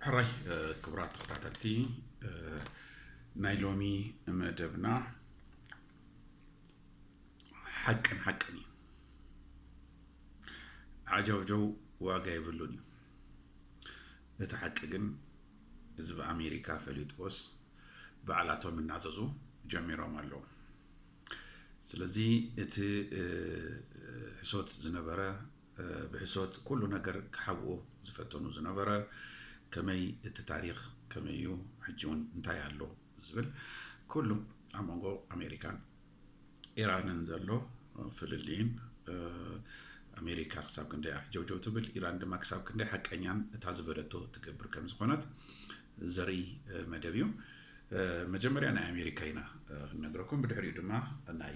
ሕራይ ክቡራት ተኸታተልቲ ናይ ሎሚ መደብና ሓቅን ሓቅን እዩ ዓጀውጀው ዋጋ የብሉን እዩ እቲ ሓቂ ግን ህዝቢ ኣሜሪካ ፈሊጥዎስ ባዕላቶም እናዘዙ ጀሚሮም ኣለዉ ስለዚ እቲ ሕሶት ዝነበረ ብሕሶት ኩሉ ነገር ክሓብኡ ዝፈተኑ ዝነበረ ከመይ እቲ ታሪኽ ከመይ እዩ ሕጂ ውን እንታይ ኣሎ ዝብል ኩሉ ኣብ መንጎ ኣሜሪካን ኢራንን ዘሎ ፍልልይን ኣሜሪካ ክሳብ ክንደይ ኣሕጀውጀው ትብል ኢራን ድማ ክሳብ ክንደይ ሓቀኛን እታ ዝበለቶ ትገብር ከም ዝኾነት ዘርኢ መደብ እዩ መጀመርያ ናይ ኣሜሪካ ኢና ክነግረኩም ብድሕሪኡ ድማ ናይ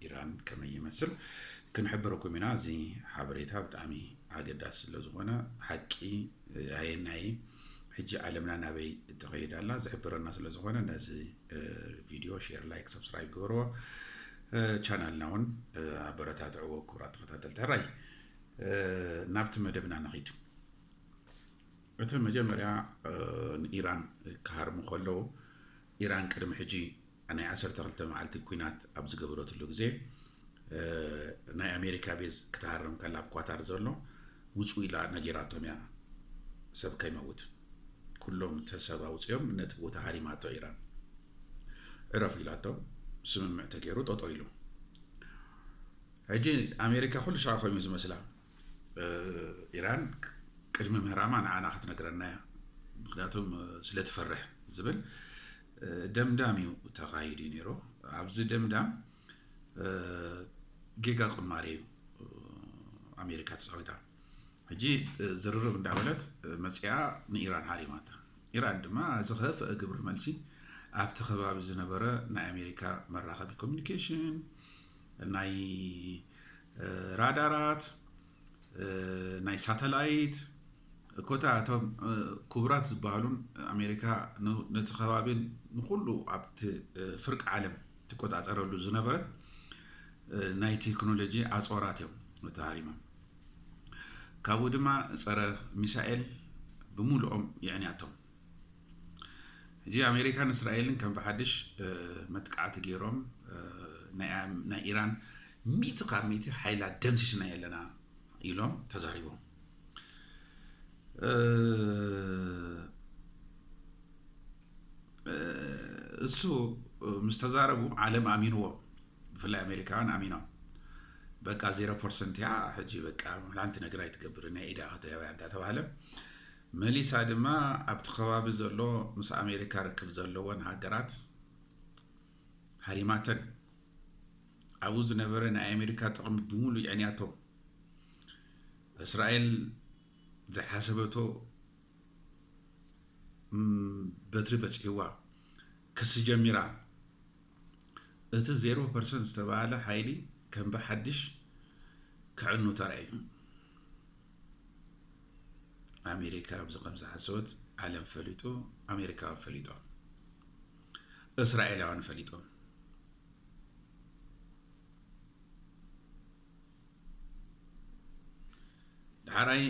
ኢራን ከመይ ይመስል ክንሕብረኩም ኢና። እዚ ሓበሬታ ብጣዕሚ ኣገዳሲ ስለ ዝኾነ ሓቂ ኣየናይ ሕጂ ዓለምና ናበይ እትኸይድ ኣላ ዝሕብረና ስለ ዝኾነ ነዚ ቪድዮ ሼር፣ ላይክ፣ ሰብስክራይብ ግበርዎ። ቻናልና እውን ኣበረታትዕዎ ክቡራት ተኸታተልቲ ሕራይ ናብቲ መደብና ንኺድ። እቲ መጀመርያ ንኢራን ክሃርሙ ከለዉ ኢራን ቅድሚ ሕጂ ናይ ዓሰርተ ክልተ መዓልቲ ኲናት ኣብ ዝገበረትሉ ግዜ ናይ ኣሜሪካ ቤዝ ክትሃርም ከላ ኣብ ኳታር ዘሎ ውፁ ኢላ ነጊራቶም እያ ሰብ ከይመውት ኩሎም ተሰብ ኣውፅኦም ነቲ ቦታ ሃሪማቶ ኢራን ዕረፉ ኢላቶም ስምምዕ ተገይሩ ጠጦ ኢሉ ሕጂ ኣሜሪካ ኩሉ ሻዕ ኮይኑ ዝመስላ ኢራን ቅድሚ ምህራማ ንዓና ክትነግረና እያ ምክንያቱም ስለትፈርሕ ዝብል ደምዳም እዩ ተኻሂዱ እዩ ነይሩ ኣብዚ ደምዳም ጌጋ ቅማሬ እዩ ኣሜሪካ ተፃዊታ ሕጂ ዝርርብ እንዳበለት መፅኣ ንኢራን ሃሪማታ ኢራን ድማ ዝኸፍአ ግብሪ መልሲ ኣብቲ ከባቢ ዝነበረ ናይ ኣሜሪካ መራኸቢ ኮሚኒኬሽን ናይ ራዳራት፣ ናይ ሳተላይት፣ ኮታ እቶም ክቡራት ዝበሃሉን ኣሜሪካ ነቲ ከባቢን ንኩሉ ኣብቲ ፍርቂ ዓለም ትቆፃፀረሉ ዝነበረት ናይ ቴክኖሎጂ ኣፅዋራት እዮም ተሃሪሞም። ካብኡ ድማ ፀረ ሚሳኤል ብሙሉኦም የዕንያቶም። ሕጂ ኣሜሪካን እስራኤልን ከም ብሓድሽ መጥቃዕቲ ገይሮም ናይ ኢራን ሚእቲ ካብ ሚእቲ ሓይላ ደምሲስና የለና ኢሎም ተዛሪቦም እሱ ምስ ተዛረቡ ዓለም ኣሚንዎም ብፍላይ ኣሜሪካውያን ኣሚኖም በቃ ዜሮ ፐርሰንት እያ ሕጂ በቃ ሓንቲ ነገር ኣይትገብር ናይ ኢዳ ከተያውያ እንዳ ተባህለ መሊሳ ድማ ኣብቲ ከባቢ ዘሎ ምስ ኣሜሪካ ርክብ ዘለወን ሃገራት ሃሪማተን ኣብኡ ዝነበረ ናይ ኣሜሪካ ጥቕሚ ብምሉእ የዕንያቶ እስራኤል ዝሓሰበቶ በትሪ በፂሕዋ ክሲ ጀሚራ እቲ ዜሮ ፐርሰንት ዝተባሃለ ሓይሊ ከም ብሓድሽ ክዕኑ ተራእዩ ኣሜሪካ ኣብዚ ከምዝሓሰወት ዓለም ፈሊጡ ኣሜሪካውያን ፈሊጦም እስራኤላውያን ፈሊጦም ዳሕራይ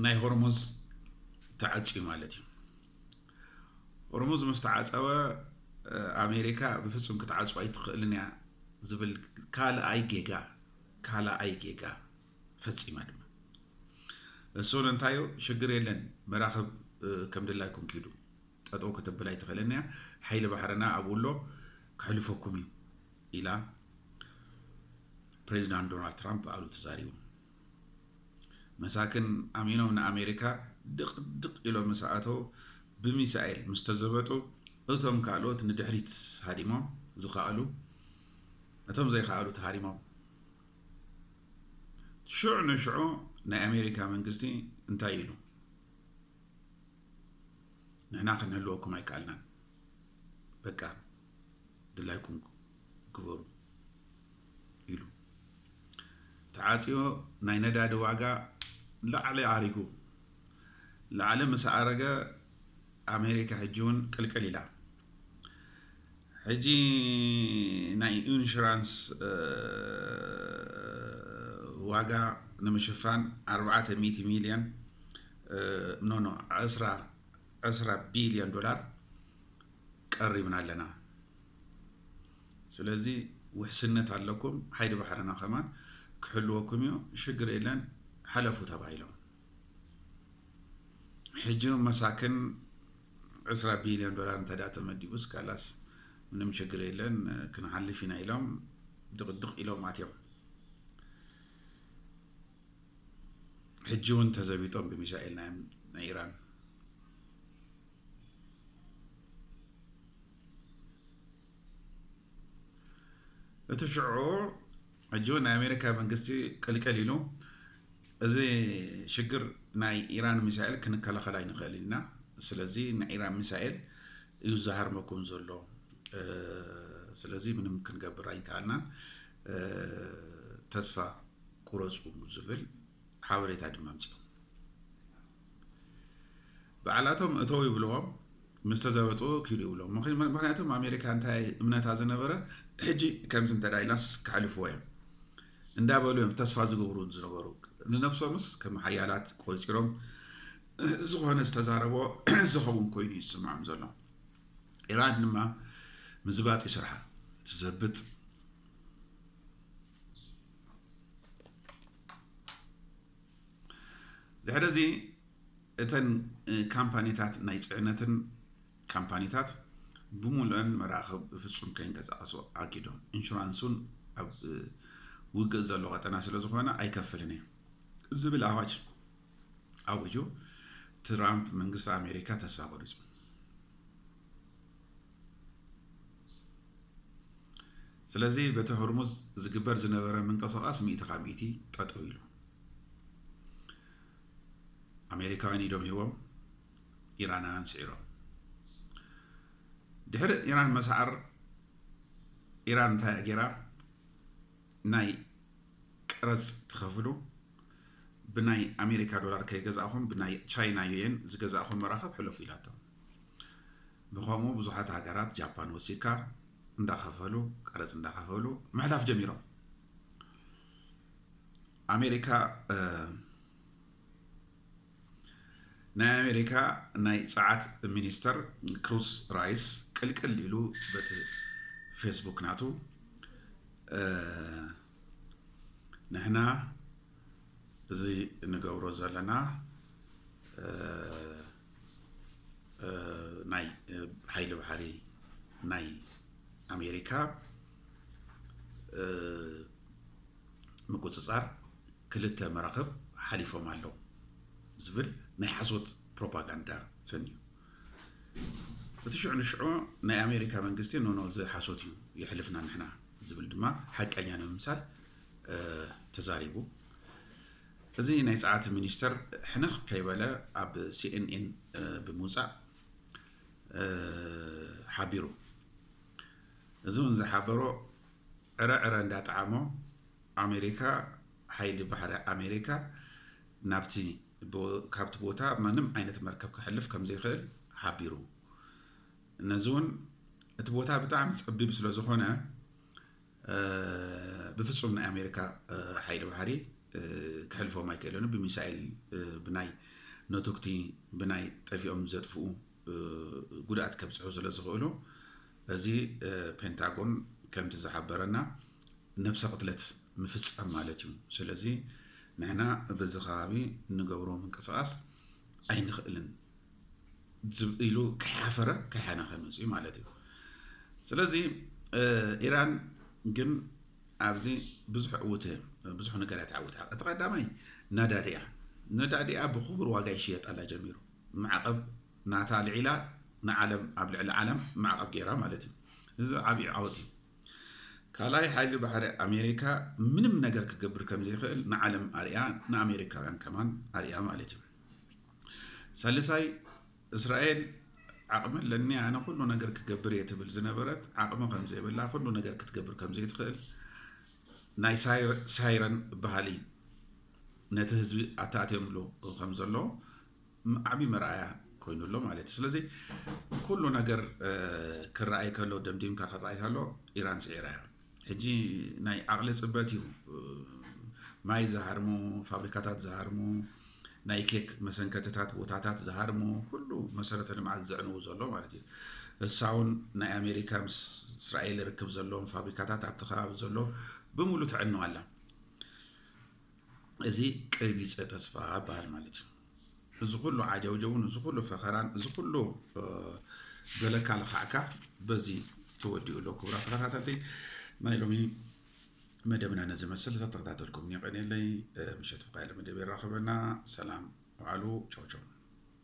ናይ ሆርሙዝ ተዓፅዩ ማለት እዩ ሆርሙዝ ምስ ተዓፀወ ኣሜሪካ ብፍፁም ክትዓፅዋ ኣይትኽእልን እያ ዝብል ካልኣይ ጌጋ ካልኣይ ጌጋ ፈጺማ ድማ እሱ ንእንታዩ ሽግር የለን መራኽብ ከም ድላይኩም ኪዱ ጠጠው ክትብል ኣይትኽእልን እያ ሓይሊ ባሕርና ኣብ ውሎ ክሕልፈኩም እዩ ኢላ ፕሬዚዳንት ዶናልድ ትራምፕ በዓሉ ተዛሪቡ መሳክን ኣሚኖም ንኣሜሪካ ድቕድቕ ኢሎም ምስ ኣተው ብሚሳኤል ምስ ተዘበጡ እቶም ካልኦት ንድሕሪት ሃዲሞም ዝኸኣሉ እቶም ዘይከኣሉ ተሃሪሞም ሽዑ ንሽዑ ናይ ኣሜሪካ መንግስቲ እንታይ ኢሉ ንሕና ክንህልወኩም ኣይከኣልናን በቃ ድላይኩም ግበሩ ኢሉ ተዓፅዮ ናይ ነዳዲ ዋጋ ላዕሊ ኣሪጉ ላዕሊ ምስ ኣረገ ኣሜሪካ ሕጂ እውን ቅልቅል ኢላ ሕጂ ናይ ኢንሹራንስ ዋጋ ንምሽፋን ኣርባዕተ ሚእቲ ሚልዮን ኖ ኖ ዕስራ ዕስራ ቢልዮን ዶላር ቀሪብና ኣለና። ስለዚ ውሕስነት ኣለኩም፣ ሓይሊ ባሕርና ከማን ክሕልወኩም እዩ፣ ሽግር የለን ሓለፉ ተባሂሎም። ሕጂ መሳኪን ዕስራ ቢልዮን ዶላር እንተድኣ ተመዲቡስ ካላስ ምንም ችግር የለን ክንሓልፍ ኢና ኢሎም ድቕድቕ ኢሎም ኣትዮም ሕጂ እውን ተዘቢጦም ብሚሳኤል ናይ ኢራን እቲ ሽዑ ሕጂ እውን ናይ ኣሜሪካ መንግስቲ ቅልቅል ኢሉ እዚ ሽግር ናይ ኢራን ሚሳኤል ክንከላኸል ኣይንኽእል ኢና ስለዚ ናይ ኢራን ሚሳኤል እዩ ዝሃርመኩም ዘሎ ስለዚ ምንም ክንገብር ኣይከኣልናን ተስፋ ቁረፁ ዝብል ሓበሬታ ድማ ኣምፅኦም ባዕላቶም እተው ይብልዎም ምስ ተዘበጡ ኪዱ ይብሎም ምክንያቱም ኣሜሪካ እንታይ እምነታ ዝነበረ ሕጂ ከምዚ እንተ ኢልናስ ክሕልፍዎ እዮም እንዳበሉ እዮም ተስፋ ዝገብሩ ዝነበሩ ንነብሶምስ ከም ሓያላት ቆፂሮም ዝኾነ ዝተዛረቦ ዝኸውን ኮይኑ ይስምዖም ዘሎ ኢራን ድማ ምዝባጥ እዩ ስርሓ ትዘብጥ ድሕሪ እዚ እተን ካምፓኒታት ናይ ፅዕነትን ካምፓኒታት ብምሉእን መራኽብ ብፍፁም ከይንቀሳቐሱ ኣጊዶም ኢንሹራንስ እውን ኣብ ውግእ ዘሎ ቀጠና ስለ ዝኾነ ኣይከፍልን እዩ ዝብል ኣዋጅ ኣውጁ ትራምፕ መንግስቲ ኣሜሪካ ተስፋ ቆሪፁ ስለዚ በቲ ሆርሙዝ ዝግበር ዝነበረ ምንቅስቓስ ሚእቲ ካብ ሚእቲ ጠጠው ኢሉ ኣሜሪካውያን ኢዶም ሂቦም ኢራናውያን ስዒሮም ድሕሪ ኢራን መስዓር ኢራን እንታይ ገይራ ናይ ቀረጽ ትኸፍሉ፣ ብናይ ኣሜሪካ ዶላር ከይገዛእኹም ብናይ ቻይና ዩየን ዝገዛእኹም መራኽብ ሕለፉ ኢላቶም። ብኸምኡ ብዙሓት ሃገራት ጃፓን ወሲካ እንዳኸፈሉ ቀረጽ እንዳኸፈሉ ምሕላፍ ጀሚሮም። ኣሜሪካ ናይ ኣሜሪካ ናይ ጸዓት ሚኒስተር ክሩስ ራይስ ቅልቅል ኢሉ በቲ ፌስቡክ ናቱ ንሕና እዚ ንገብሮ ዘለና ናይ ሓይሊ ባሕሪ ናይ ኣሜሪካ ምቁፅፃር ክልተ መራኽብ ሓሊፎም ኣለው ዝብል ናይ ሓሶት ፕሮፓጋንዳ ፈንዩ። እቲ ሽዑ ንሽዑ ናይ ኣሜሪካ መንግስቲ ኖኖ እዚ ሓሶት እዩ የሕልፍና ንሕና ዝብል ድማ ሓቀኛ ንምምሳል ተዛሪቡ። እዚ ናይ ጸዓት ሚኒስተር ሕንኽ ከይበለ ኣብ ሲኤንኤን ብምውጻእ ሓቢሩ። እዚ እውን ዝሓበሮ ዕረ ዕረ እንዳጠዓሞ ኣሜሪካ ሓይሊ ባሕሪ ኣሜሪካ ናብቲ ካብቲ ቦታ ምንም ዓይነት መርከብ ክሕልፍ ከምዘይክእል ሓቢሩ። ነዚ እውን እቲ ቦታ ብጣዕሚ ፀቢብ ስለዝኾነ ብፍፁም ናይ ኣሜሪካ ሓይሊ ባሕሪ ክሕልፎም ኣይክእልን ብሚሳኤል ብናይ ነቶግቲ ብናይ ጠፊኦም ዘጥፍኡ ጉድኣት ከብፅሑ ስለዝኽእሉ እዚ ፔንታጎን ከምቲ ዝሓበረና ነብሰ ቅትለት ምፍፃም ማለት እዩ ስለዚ ንሕና በዚ ከባቢ ንገብሮ ምንቅስቓስ ኣይንኽእልን ኢሉ ከይሓፈረ ከይሓና ከይመፅ እዩ ማለት እዩ ስለዚ ኢራን ግን ኣብዚ ብዙሕ ዕውት ብዙሕ ነገር እያ ተዓውታ እቲ ቀዳማይ ነዳዲ እያ ነዳዲ እያ ብክቡር ዋጋ ይሽየጣላ ጀሚሩ ማዕቐብ ናታ ኣልዒላ ንዓለም ኣብ ልዕሊ ዓለም ማዕቐብ ገይራ ማለት እዩ። እዚ ዓብዪ ዓወት እዩ። ካልኣይ ሓይሊ ባሕሪ ኣሜሪካ ምንም ነገር ክገብር ከም ዘይኽእል ንዓለም ኣርያ ንኣሜሪካውያን ከማን ኣርያ ማለት እዩ። ሳልሳይ እስራኤል ዓቕሚ ኣለኒ ኣነ ኩሉ ነገር ክገብር እየ ትብል ዝነበረት ዓቕሚ ከም ዘይብላ ኩሉ ነገር ክትገብር ከም ዘይትኽእል ናይ ሳይረን ባህሊ ነቲ ህዝቢ ኣታእትዮምሉ ከም ዘሎ ዓብዪ መርኣያ ኮይኑ ኣሎ ማለት እዩ ስለዚ ኩሉ ነገር ክረኣይ ከሎ ደምዲምካ ክረኣይ ከሎ ኢራን ስዒራ እያ ሕጂ ናይ ዓቕሊ ፅበት እዩ ማይ ዝሃርሙ ፋብሪካታት ዝሃርሙ ናይ ኬክ መሰንከትታት ቦታታት ዝሃርሙ ኩሉ መሰረተ ልምዓት ዘዕንዉ ዘሎ ማለት እዩ እሳ እውን ናይ ኣሜሪካ ምስ እስራኤል ርክብ ዘለዎም ፋብሪካታት ኣብቲ ከባቢ ዘሎ ብምሉእ ተዕንዋ ኣላ እዚ ቀቢፀ ተስፋ ይበሃል ማለት እዩ እዚ ኩሉ ዓጀውጀውን እዚ ኩሉ ፈኸራን እዚ ኩሉ ገለካ ለካዕካ በዚ ተወዲኡ ኣሎ ክቡራት ተኸታተልቲ ናይ ሎሚ መደብና ነዚ መስል ተተኸታተልኩም የቀኔለይ ምሸት ብቃለ መደብ ይራኸበና ሰላም ውዓሉ ቻው ቻው